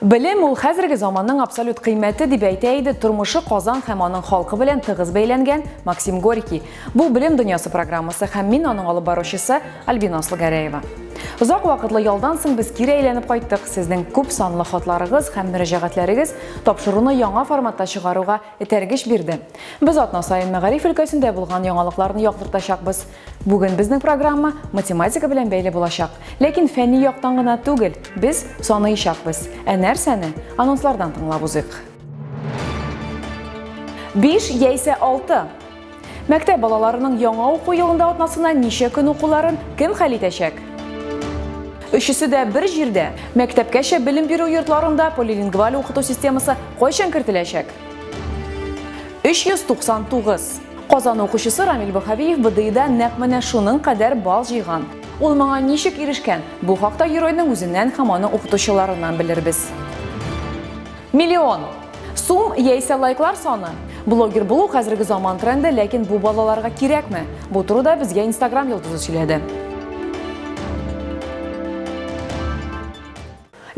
Белем ул хәзерге заманның абсолют кыйммәте дип әйтә иде тормышы Казан һәм аның халкы белән тыгыз бәйләнгән Максим Горький. Бу Белем дөньясы программасы һәм мин аның алып баручысы Альбина Слугәрәева. Озак вакытлы ялдан соң без кире әйләнеп кайттык. Сезнең күп санлы хатларыгыз һәм мөрәҗәгатьләрегез тапшыруны яңа форматта чыгаруга этәргеч бирде. Без атна саен мәгариф өлкәсендә булган яңалыкларны яктыртачакбыз. Бүген безнең программа математика белән бәйле булачак. Ләкин фәнни яктан гына түгел, без саныйчакбыз. Ә нәрсәне? Анонслардан тыңлап узыйк. 5 яисә 6. Мәктәп балаларының яңа уку елында атнасына ничә көн укуларын кем хәл итәчәк? Өчесе дә бер җирдә. Мәктәпкәчә белем бирү йортларында полилингваль укыту системасы кайчан кертеләчәк? 399. Казан укучысы Рамил Бахавиев БДИда нәкъ менә шуның кадәр балл җыйган. Ул моңа ничек ирешкән? Бу хакта геройның үзеннән һәм аның укытучыларыннан белербез. Миллион! Сум яисә лайклар саны? Блогер булу хәзерге заман тренды, ләкин бу балаларга кирәкме? Бу турыда безгә Instagram йолдызы сөйләде.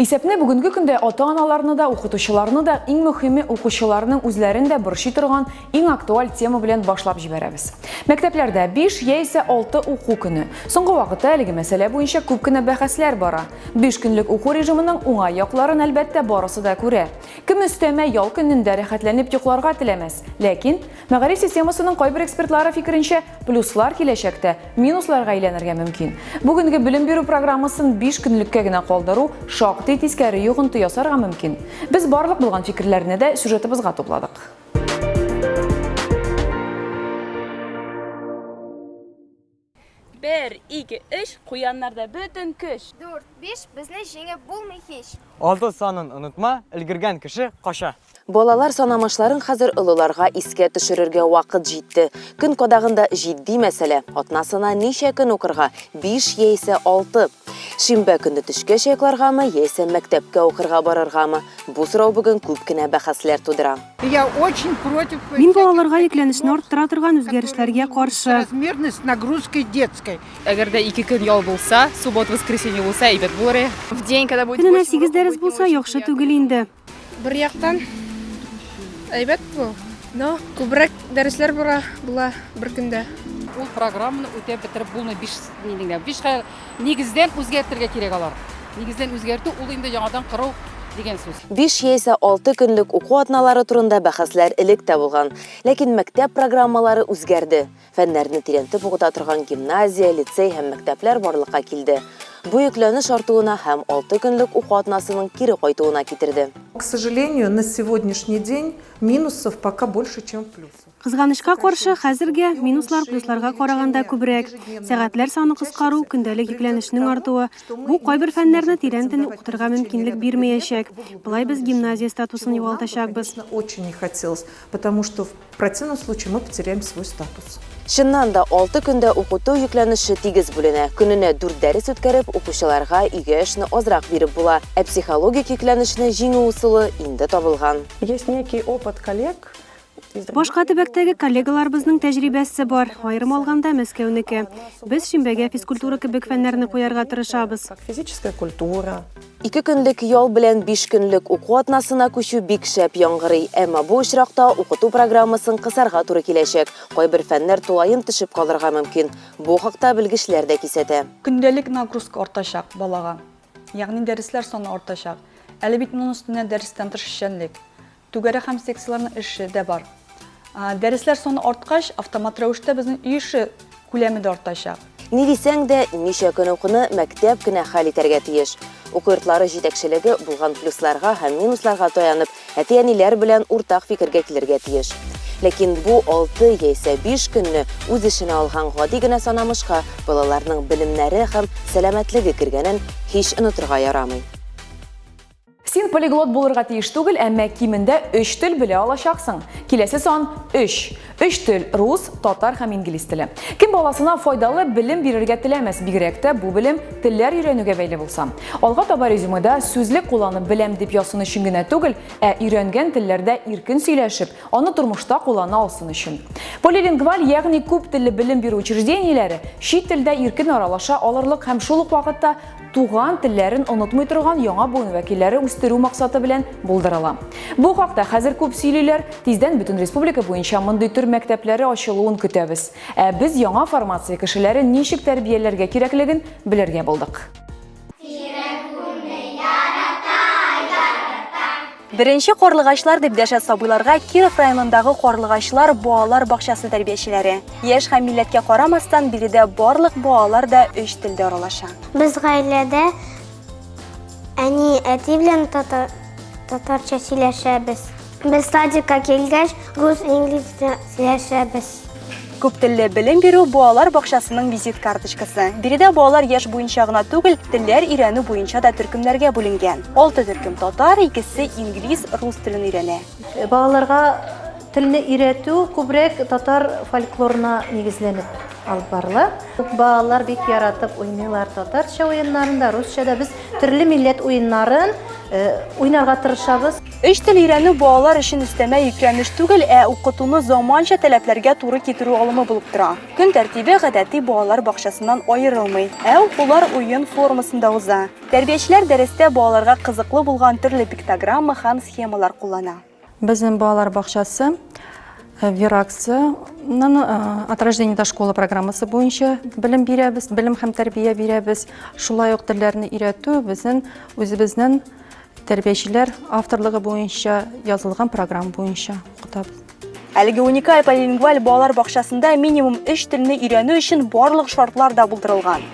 Исәпне бүгенге көндә ата-аналарны да, укытучыларны да, иң мөхиме, укучыларның үзләрен дә борчый торган иң актуаль тема белән башлап җибәрәбез. Мәктәпләрдә биш яисә алты уку көне. Соңгы вакытта әлеге мәсьәлә буенча күп кенә бәхәсләр бара. Биш көнлек уку режимының уңай якларын, әлбәттә, барысы да күрә. Кем өстәмә ял көнендә рәхәтләнеп йокларга теләмәс? Ләкин, мәгариф системасының кайбер экспертлары фикеренчә, Плюслар киләчәктә минусларга әйләнергә мөмкин. Бүгенге белем бирү программасын 5 көнлеккә генә калдыру шактый тискәре йогынты ясарга мөмкин. Без барлык булган фикерләрне дә сюжетыбызга тупладык. Бер, ике, өч, куяннарда бөтен көч. Дүрт, биш, безне җиңеп булмый һич. Алты санын онытма, өлгергән кеше кача. Балалар санамачларын хәзер олыларга искә төшерергә вакыт җитте. Көн кадагында җитди мәсьәлә, атнасына ничә көн укырга, биш яисә алты? Шимбә көнне төшкә чайкаларгамы яисә мәктәпкә укырга барыргамы? Бу сорау бүген күп кенә бәхәсләр тудыра. Мин балаларга йөкләнешне арттыра торган үзгәрешләргә каршы. Әгәр дә ике көн ял булса, суббот-воскресенье булса, әйбәт булыр иде. Көненә сигез дәрес булса, яхшы түгел инде. Бер яктан әйбәт бу, но күбрәк дәресләр бара була бер көндә. Ул программаны үтәп бетереп булмый, биш нигә, биш нигездән үзгәртергә кирәк алар. Нигездән үзгәртү ул инде яңадан кору дигән сүз. Биш яисә алты көнлек уку атналары турында бәхәсләр элек тә булган, ләкин мәктәп программалары үзгәрде. Фәннәрне тирәнтеп укыта торган гимназия, лицей һәм мәктәпләр барлыкка килде. Бу йөкләнеш артуына һәм алты көнлек уку атнасының кире кайтуына китерде. К сожалению, на сегодняшний день минусов пока больше, чем плюсов. Кызганычка каршы, хәзергә минуслар плюсларга караганда күбрәк. Сәгатьләр саны кыскару, көндәлек йөкләнешнең артуы. Бу кайбер фәннәрне тирәнтен укытырга мөмкинлек бирмәячәк. Болай без гимназия статусын югалтачакбыз. Противном случае мы потеряем свой статус. Чыннан да, алты көндә укыту йөкләнеше тигез бүленә. Көненә дүрт дәрес үткәреп, укучыларга өйгә эшне азрак биреп була. Ә психологик йөкләнешне җиңү ысулы инде табылган. Есть некий опыт коллег. Башка төбәктәге коллегаларыбызның тәҗрибәсе бар, аерым алганда, Мәскәүнеке. Без шимбәгә физкультура кебек фәннәрне куярга тырышабыз. Как физическая культура. Ике көнлек ял белән биш көнлек уку атнасына күчү бик шәп яңгырый, әмма бу очракта укыту программасын кысарга туры киләчәк, кайбер фәннәр тулаем төшеп калырга мөмкин. Бу хакта белгечләр дә кисәтә. Көндәлек нагрузка артачак балага, ягъни дәресләр саны артачак. Әле бит моның өстенә дәрестән тыш эшчәнлек. Түгәрәк һәм секцияләрнең эше дә бар. Дәресләр саны арткач, автомат рәвештә безнең өй эше күләме дә артачак. Ни дисәң дә, ничә көн укуны мәктәп кенә хәл итәргә тиеш. Уку йортлары җитәкчелеге булган плюсларга һәм минусларга таянып, әти-әниләр белән уртак фикергә килергә тиеш. Ләкин бу алты яисә биш көнне үз эченә алган гади генә санамышка балаларның белемнәре һәм сәламәтлеге кергәнен һич онытырга ярамый. Син полиглот булырга тиеш түгел, әмма кимендә 3 тел белә алачаксың. Киләсе сан 3. 3 тел, рус, татар һәм инглиз теле. Кем баласына файдалы белем бирергә теләмәс, бигрәк тә бу белем телләр өйрәнүгә бәйле булса. Алга таба резюмеда сүзлек кулланып беләм дип язсын өчен генә түгел, ә өйрәнгән телләрдә иркен сөйләшеп, аны тормышта куллана алсын өчен. Полилингваль, ягъни күп телле белем бирү учреждениеләре чит телдә иркен аралаша алырлык һәм шул ук вакытта туган телләрен онытмый торган яңа буын вәкилләре үстерү максаты белән булдырыла. Бу хакта хәзер күп сөйлиләр, тиздән бөтен республика буенча мондый төр мәктәпләре ачылуын көтәбез. Ә без яңа формация кешеләрен ничек тәрбияләргә кирәклеген белергә булдык. Беренче карлыгачлар дип дәшә сабыйларга Киров районындагы карлыгачлар балалар бакчасы тәрбиячеләре. Яшь һәм милләткә карамастан, биредә барлык балалар да өч телдә аралаша. Без гаиләдә әни, әти белән татар, татарча сөйләшәбез. Без садикка килгәч, рус, инглиз сөйләшәбез. Күптелле белем бирү балалар бакчасының визит карточкасы. Биредә балалар яшь буенча гына түгел, телләр өйрәнү буенча да төркемнәргә бүленгән. Алты төркем татар, икесе инглиз, рус телен өйрәнә. Балаларга телне өйрәтү күбрәк татар фольклорына нигезләнеп алып барыла. Балалар бик яратып уйныйлар татарча уеннарында, русча да. Без төрле милләт уеннарын уйнарга тырышабыз. Өч тел өйрәнү балалар өчен өстәмә йөкләнеш түгел, ә укытуны заманча таләпләргә туры китерү алымы булып тора. Көн тәртибе гадәти балалар бакчасыннан аерылмый, ә укулар уен формасында уза. Тәрбиячеләр дәрестә балаларга кызыклы булган төрле пиктограмма һәм схемалар куллана. Безнең балалар бакчасы Вераксының от рождения до школы программасы буенча белем бирәбез, белем һәм тәрбия бирәбез. Шулай ук телләрне өйрәтү безнең үзебезнең Тәрбиячеләр авторлыгы буенча язылган программа буенча укыта. Әлеге уникаль полилингваль балалар бакчасында минимум өч телне өйрәнү өчен барлык шартлар да булдырылган.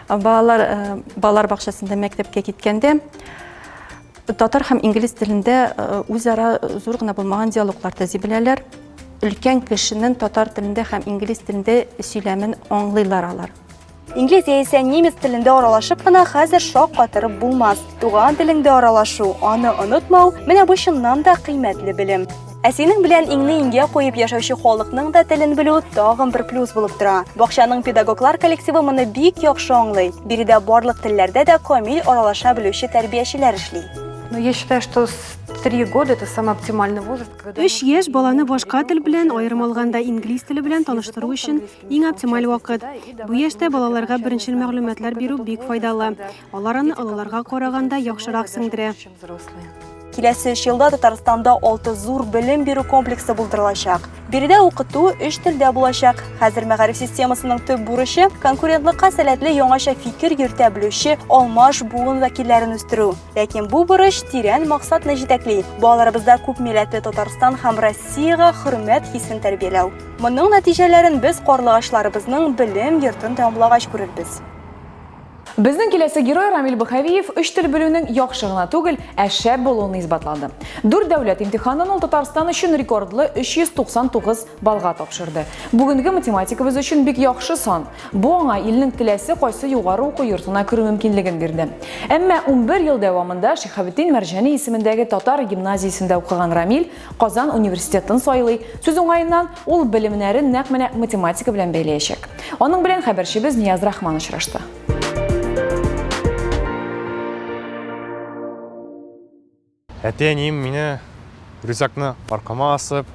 Балалар, э, балалар бакчасында мәктәпкә киткәндә татар һәм инглиз телендә э, үзара зур гына булмаган диалоглар төзи беләләр. Өлкән кешенең татар телендә һәм инглиз телендә сөйләмен аңлыйлар алар. Инглиз яисә немец телендә аралашып кына хәзер шок катырып булмас. Туган телеңдә аралашу, аны онытмау, менә бу чыннан да кыйммәтле белем. Ә синең белән иңне иңгә куеп яшәүче халыкның да телен белү тагын бер плюс булып тора. Бакчаның педагоглар коллективы моны бик яхшы аңлый. Биредә барлык телләрдә дә камил аралаша белүче тәрбиячеләр эшли. Ну, я считаю, что три года это самый оптимальный возраст, когда... Өч яшь баланы башка тел белән, аерым алганда инглиз теле белән таныштыру өчен Иң оптималь вакыт. Бу яшьтә балаларга беренчел мәгълүматлар бирү бик файдалы. Алар аны олыларга караганда яхшырак сеңдерә. Киләсе өч елда Татарстанда алты зур белем бирү комплексы булдырылачак. Биредә укыту өч телдә булачак. Хәзер мәгариф системасының төп бурычы конкурентлыкка сәләтле яңача фикер йөртә белүче алмаш буын вәкилләрен үстерү. Ләкин бу бурыч тирән максатны җитәкли. Балаларыбызда күп милләтле Татарстан һәм Россиягә хөрмәт хисен тәрбияләү. Моның нәтиҗәләрен без карлыгачларыбызның белем йортын тәмамлагач күрербез. Безнең киләсе герой Рамил Быхавиев өч тел белүнең яхшы гына түгел, ә шәп булуын исбатлады. Дүрт дәүләт имтиханын ул Татарстан өчен рекордлы 399 баллга тапшырды. Бүгенге математикабыз өчен бик яхшы сан. Бу аңа илнең теләсе кайсы югары уку йортына керү мөмкинлеген бирде. Әмма унбер ел дәвамында Шиһабетдин Мәрҗани исемендәге татар гимназиясендә укыган Рамил Казан университетын сайлый. Сүз уңаеннан, ул белемнәрен нәкъ менә математика белән бәйләячәк. Аның белән хәбәрчебез Нияз Рахман очрашты. Әти-әнием мине рюкзакны аркама асып,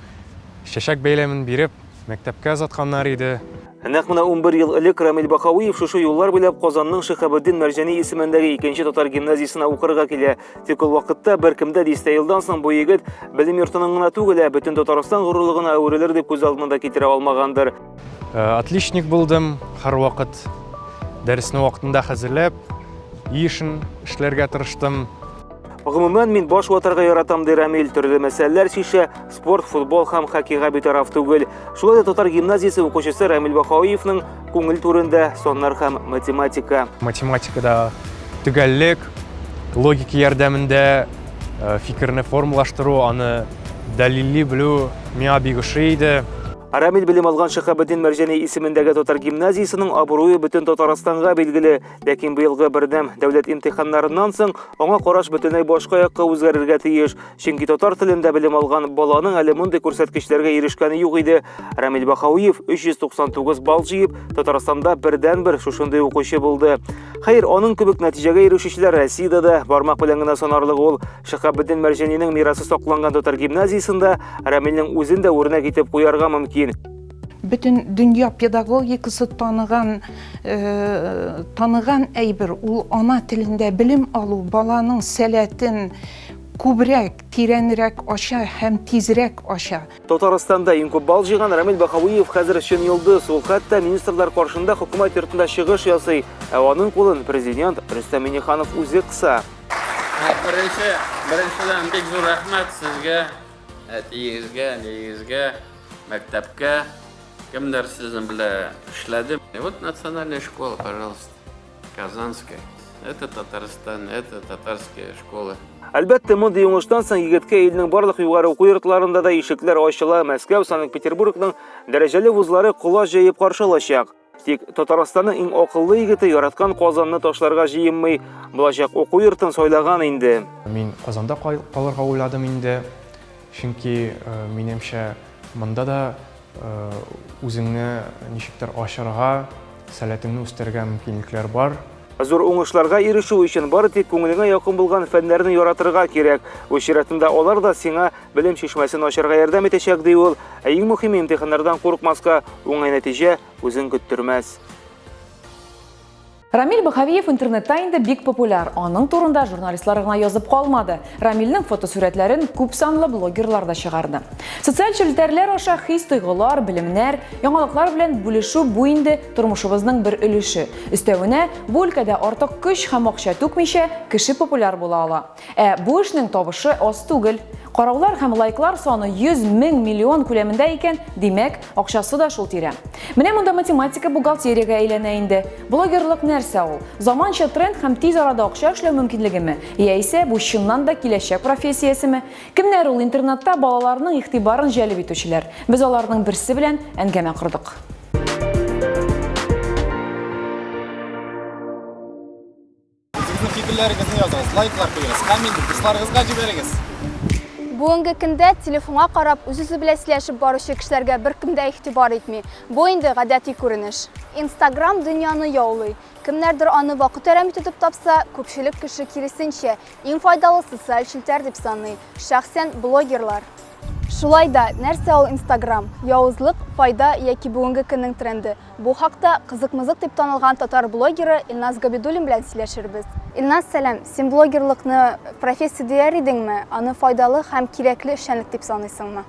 чәчәк бәйләмен биреп, Мәктәпкә озатканнар иде. Ә нәкъ менә унбер ел элек Рамил Бакауиев шушы юллар буйлап Казанның Шиһабетдин Мәрҗани исемендәге икенче татар гимназиясенә укырга килә. Тик ул вакытта беркем дә дистә елдан соң бу егет белем йортының гына түгел, ә бөтен Татарстан горурлыгына әверелер дип күз алдына да китерә алмагандыр. Отличник булдым, һәрвакыт дәресне вакытында хәзерләп, өй эшен эшләргә тырыштым. Гомумән, мин баш ватарга яратам, ди Рамил. Төрле мәсьәләләр чишә, Спорт, футбол һәм хоккейга битараф түгел. Шулай да татар гимназиясе укучысы Рамил Бахауиевның күңел түрендә саннар һәм математика. Математикада төгәллек, логика ярдәмендә э, фикерне формалаштыру, аны дәлилли белү миңа бик ошый иде. Рамил белем алган Шәһабетдин Мәрҗәни исемендәге татар гимназиясенең абруе бөтен Татарстанга билгеле, ләкин быелгы бердәм дәүләт имтиханнарыннан соң аңа караш бөтенләй башка якка үзгәрергә тиеш. Чөнки татар телендә белем алган баланың әле мондый күрсәткечләргә ирешкәне юк иде. Рамил Бахауиев 399 балл җыеп, Татарстанда бердән-бер шушындый укучы булды. Хәер, аның кебек нәтиҗәгә ирешүчеләр Россиядә дә бармак белән генә санарлык ул. Шихабетдин Мәрҗәнинең мирасы сакланган татар гимназиясендә Рамилнең үзен дә үрнәк итеп куярга мөмкин. Бөтен дөнья педагогикасы таныган э, таныган әйбер ул ана телендә белем алу, баланың сәләтен, Күбрәк, тирәнрәк ача һәм тизрәк ача. Татарстанда иң күп балл җыйган Рамил Баһавиев хәзер чын йолдыз, ул хәтта министрлар каршында хөкүмәт йортында чыгыш ясый, ә аның кулын президент Рөстәм Миңнеханов үзе кыса. Беренче, беренчедән бик зур рәхмәт сезгә, әтиегезгә, әниегезгә, мәктәпкә, кемнәр сезнең белән эшләде. Вот национальная школа, пожалуйста. Казанская. Это Татарстан, это татарская школа. Әлбәттә, мондый уңыштан соң егеткә илнең барлык югары уку йортларында да ишекләр ачыла, Мәскәү, Санкт-Петербургның дәрәҗәле вузлары колач җыеп каршы алачак. Тик Татарстанның иң акыллы егете яраткан Казанны ташларга җыенмый, булачак уку йортын сайлаган инде. Мин Казанда калырга уйладым инде. Чөнки, минемчә, монда да үзеңне ничектер ачарга, сәләтеңне үстерергә мөмкинлекләр бар. Зур уңышларга ирешү өчен бары тик күңелеңә якын булган фәннәрне яратырга кирәк. Үз чиратында алар да сиңа белем чишмәсен ачарга ярдәм итәчәк, ди ул. Ә иң мөһиме, имтиханнардан курыкмаска, уңай нәтиҗә үзен көттермәс. Рамиль Бахавиев интернетта инде бик популяр. Аның турында журналистлар гына язып калмады. Рамильнең фотосурәтләрен күп санлы блогерлар да чыгарды. Социаль челтәрләр аша хис-тойгылар, белемнәр, яңалыклар белән бүлешү бу инде тормышыбызның бер өлеше. Өстәвенә, бу өлкәдә артык көч һәм акча түкмичә, кеше популяр була ала. Ә бу эшнең табышы аз түгел. Караулар һәм лайклар саны 100 мең миллион күләмендә икән, димәк, акчасы да шул тирә. Менә монда математика бухгалтериягә әйләнә инде. Блогерлык нәрсә ул? Заманча тренд һәм тиз арада акча эшләү мөмкинлегеме? Яисә бу чыннан да киләчәк профессиясеме? Кемнәр ул интернетта балаларның игътибарын җәлеп итүчеләр? Без аларның берсе белән әңгәмә кордык. Үзегезнең фикерләрегезне языгыз, лайклар куегыз, коммент дусларыгызга җибәрегез. Бүгенге көндә телефонга карап, үз-үзе белән сөйләшеп баручы кешеләргә беркем дә игътибар итми. Бу инде гадәти күренеш. Инстаграм дөньяны яулый. Кемнәрдер аны вакыт әрәм итү дип тапса, күпчелек кеше киресенчә, иң файдалы социаль челтәр дип саный, шәхсән блогерлар. Шулай да, нәрсә ул Инстаграм? Явызлык, файда яки бүгенге көннең тренды? Бу хакта Кызык-мызык дип танылган татар блогеры Илназ Габидуллин белән сөйләшербез. Илназ, сәлам! Син блогерлыкны профессия дияр идеңме? Аны файдалы һәм кирәкле эшчәнлек дип саныйсыңмы?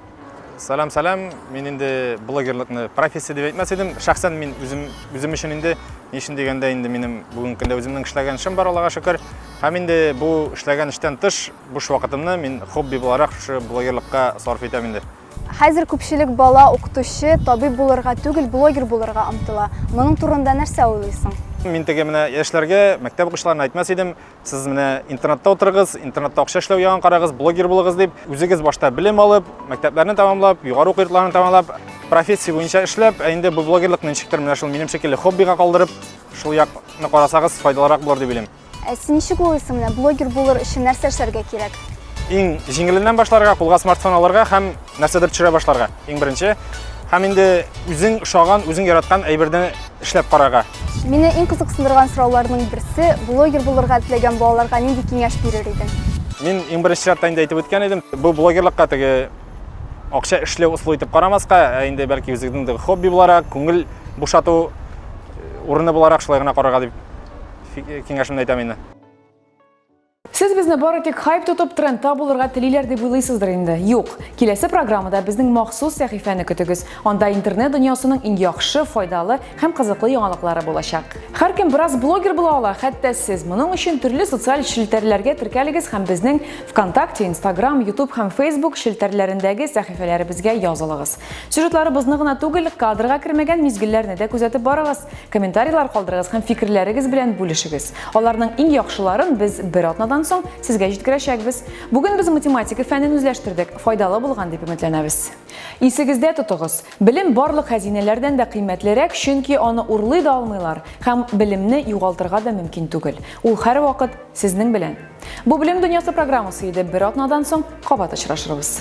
Сәлам, сәлам! Мин инде блогерлыкны профессия дип әйтмәс идем. Шәхсән мин үзем, үзем өчен инде, ни өчен дигәндә инде минем бүгенге көндә үземнең эшләгән эшем бар, Аллага шөкер. Һәм инде бу эшләгән эштән тыш буш вакытымны мин хобби буларак шушы блогерлыкка сарыф итәм инде. Хәзер күпчелек бала укытучы, табиб булырга түгел, блогер булырга омтыла. Моның турында нәрсә уйлыйсың? Мин теге менә яшьләргә, мәктәп укучыларына әйтмәс идем, сез менә интернетта утырыгыз, интернетта акча эшләү ягын карагыз, блогер булыгыз дип, үзегез башта белем алып, мәктәпләрне тәмамлап, югары уку йортларын тәмамлап, профессия буенча эшләп, ә инде бу блогерлыкны ничектер менә шул минем шикелле хоббига калдырып, шул якны карасагыз, файдалырак булыр дип уйлыйм. Ә син ничек уйлыйсың, менә блогер булыр өчен нәрсә эшләргә кирәк? Иң җиңеленнән башларга, кулга смартфон алырга һәм нәрсәдер төшерә башларга. Иң беренче һәм инде үзең ошаган, үзең яраткан әйберне эшләп карарга. Мине иң кызыксындырган сорауларның берсе, блогер булырга теләгән балаларга нинди киңәш бирер идең? Мин иң беренче чиратта инде әйтеп үткән идем, бу блогерлыкка теге акча эшләү ысулы итеп карамаска, ә инде бәлки үзеңнең хобби буларак, күңел бушату э, урыны буларак шулай гына карарга дип киңәшемне әйтәм инде. Сез безне бары тик хайп тотып трендта булырга телиләр дип уйлыйсыздыр инде. Юк, киләсе программада безнең махсус сәхифәне көтегез. Анда интернет дөньясының иң яхшы, файдалы һәм кызыклы яңалыклары булачак. Һәркем бераз блогер була ала, хәтта сез. Моның өчен төрле социаль челтәрләргә теркәлегез һәм безнең ВКонтакте, Instagram, YouTube һәм Facebook челтәрләрендәге сәхифәләребезгә язылыгыз. Сюжетларыбызны гына түгел, кадрга кермәгән мизгелләрне дә күзәтеп барыгыз. Комментарийлар калдырыгыз һәм фикерләрегез белән бүлешегез. Аларның иң яхшыларын без бер атнадан соң сезгә җиткерәчәкбез. Бүген без математика фәнен үзләштердек, файдалы булган дип өметләнәбез. Исегездә тотыгыз, белем барлык хәзинәләрдән дә кыйммәтлерәк, чөнки аны урлый да алмыйлар һәм белемне югалтырга да мөмкин түгел. Ул һәрвакыт сезнең белән. Бу белем дөньясы программасы иде. Бер атнадан соң кабат очрашырбыз.